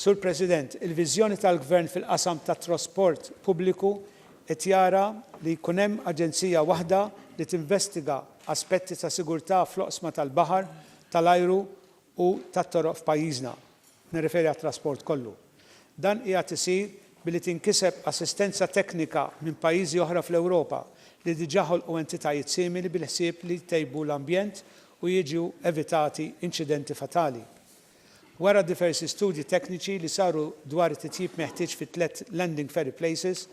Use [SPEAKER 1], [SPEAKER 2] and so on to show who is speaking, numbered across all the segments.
[SPEAKER 1] Sur President, il-viżjoni tal-Gvern fil-qasam tat-trasport pubbliku qed jara li jkun hemm aġenzija waħda li tinvestiga aspetti ta' sigurtà fl-oqsma tal-baħar, tal-ajru u tat-toroq f'pajjiżna, nirreferi għat-trasport kollu. Dan qiegħed isir billi tinkiseb assistenza teknika minn pajjiżi oħra fl-Ewropa li diġà ħolqu entitajiet simili bil-ħsieb li jtejbu l-ambjent u jiġu evitati inċidenti fatali. Wara diversi studji tekniċi li saru dwar it-titjib meħtieġ fit-tliet landing ferry places,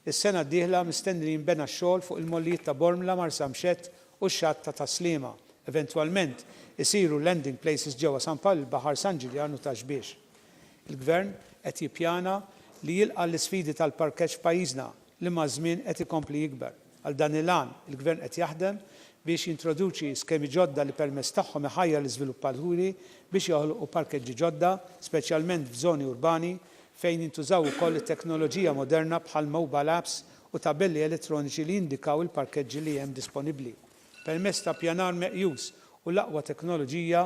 [SPEAKER 1] is-sena d-dieħla mistenni li jinbena x-xogħol fuq il-mollijiet ta' Bormla, Marsamxett u x-xatt ta' Tas-Sliema. Eventwalment isiru landing places ġewwa San Pawl il-Baħar, San Ġiljan u Taxbiex. Il-Gvern qed jippjana li jilqa' l-isfidi tal-parkeġġ f'pajjiżna li maż-żmien qed ikompli jikber. Għal dan il-għan, il-Gvern qed jaħdem biex jintroduċi skemi ġodda li permezz tagħhom iħajjar l-iżviluppaturi biex joħolqu parkeġġi ġodda, speċjalment f'żoni urbani, fejn jintużaw ukoll it-teknoloġija moderna bħall-mobile apps u tabelli elettroniċi li jindikaw il-parkeġġi li hemm disponibbli. Permezz ta' ppjanar meqjus u l-aqwa teknoloġija,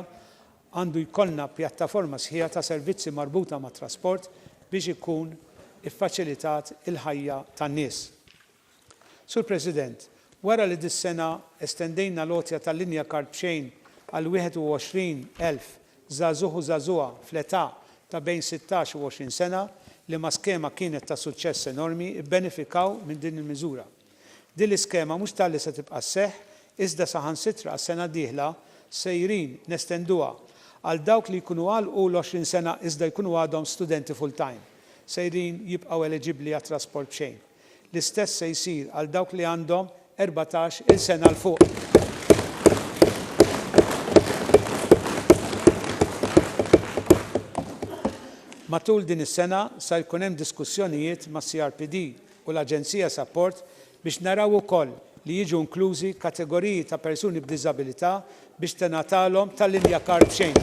[SPEAKER 1] għandu jkollna pjattaforma sħiħa ta' servizzi marbuta mat-trasport biex ikun iffaċilitat il-ħajja tan-nies. Sur President, wara li dis-sena estendejna l-għotja tal-linja kard b'xejn għal 21,000 Żagħżugħ u żagħżugħa fl-età ta' bejn sittax u għoxrin sena li ma' skema kienet ta' suċċess enormi bbenefikaw minn din il-miżura. Din l-iskema mhux talli se tibqa' sseħħ iżda saħansitra għas-sena d-dieħla sejrin nestenduha għal dawk li jkunu għalqu l-għoxrin sena iżda jkunu għadhom studenti full-time sejrin jibqgħu eliġibbli għat-trasport b'xejn. L-istess se jsir għal dawk li għandhom erbatax il sena 'l fuq. Matul din is-sena sa jkun hemm diskussjonijiet mas-CRPD u l-Aġenzija Sapport biex naraw ukoll li jiġu inklużi kategoriji ta' persuni b'diżabilità biex tingħatalhom tali Mia Card b'xejn.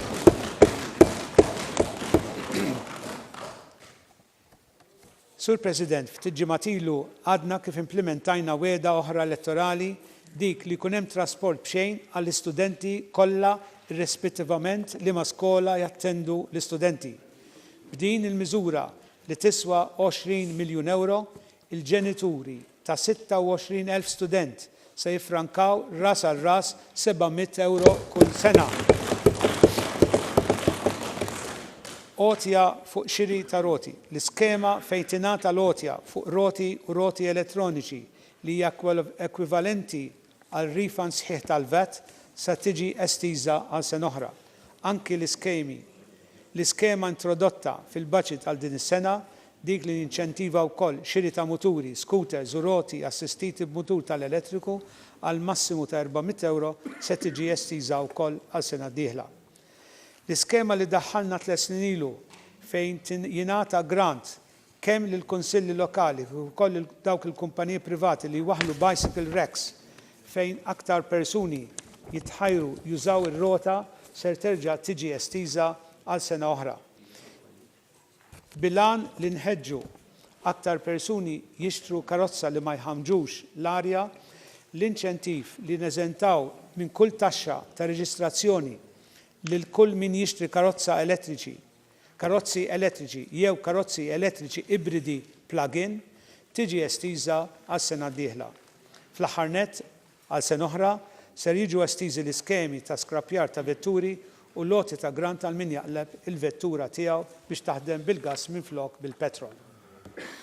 [SPEAKER 1] Sur President, ftit ġimgħat ilu għadna kif implimentajna wegħda oħra elettorali, dik li jkun hemm trasport b'xejn għall-istudenti kollha irrispittivament liema skola jattendu l-istudenti. B'din il-miżura li tiswa 20 miljun ewro, il-ġenituri ta' 26,000 student se jiffrankaw ras għal ras seba' mitt ewro kull sena. Għotja fuq xiri ta' roti. L-iskema fejn tingħata l-għotja fuq roti u roti elettroniċi li hija ekwivalenti għal refund sħiħ tal-VAT sa tiġi estiża għal sena oħra. Anki l-iskemi, L-iskema introdotta fil-baġit għal din is-sena, dik li ninċentiva wkoll xiri ta' muturi, scooters u roti assistiti b'mutur tal-elettriku għal massimu ta' €400, se tiġi estiża wkoll għal sena d-dieħla. L-iskema li daħħalna tliet snin ilu, fejn jingħata grant kemm lill-kunsilli lokali kif ukoll lil dawk il-kumpaniji privati li jwaħħlu bicycle racks fejn aktar persuni jitħajru jużaw ir-rota ser terġa' tiġi estiża għal sena oħra bil-għan li nħeġġu aktar persuni jixtru karozza li ma jħammġux l-arja, l-inċentiv li neżentaw minn kull taxxa ta' reġistrazzjoni lil kull min jixtri karozza elettriċi karozzi elettriċi jew karozzi elettriċi ibridi plug-in tiġi estiża għas-sena d-dieħla. Fl-aħħar nett, għal sena oħra, ser jiġu estiżi l-iskemi ta' skrappjar ta' vetturi u l-għoti ta' grant għal min jaqleb il-vettura tiegħu biex taħdem bil-gass minflok bil-petrol.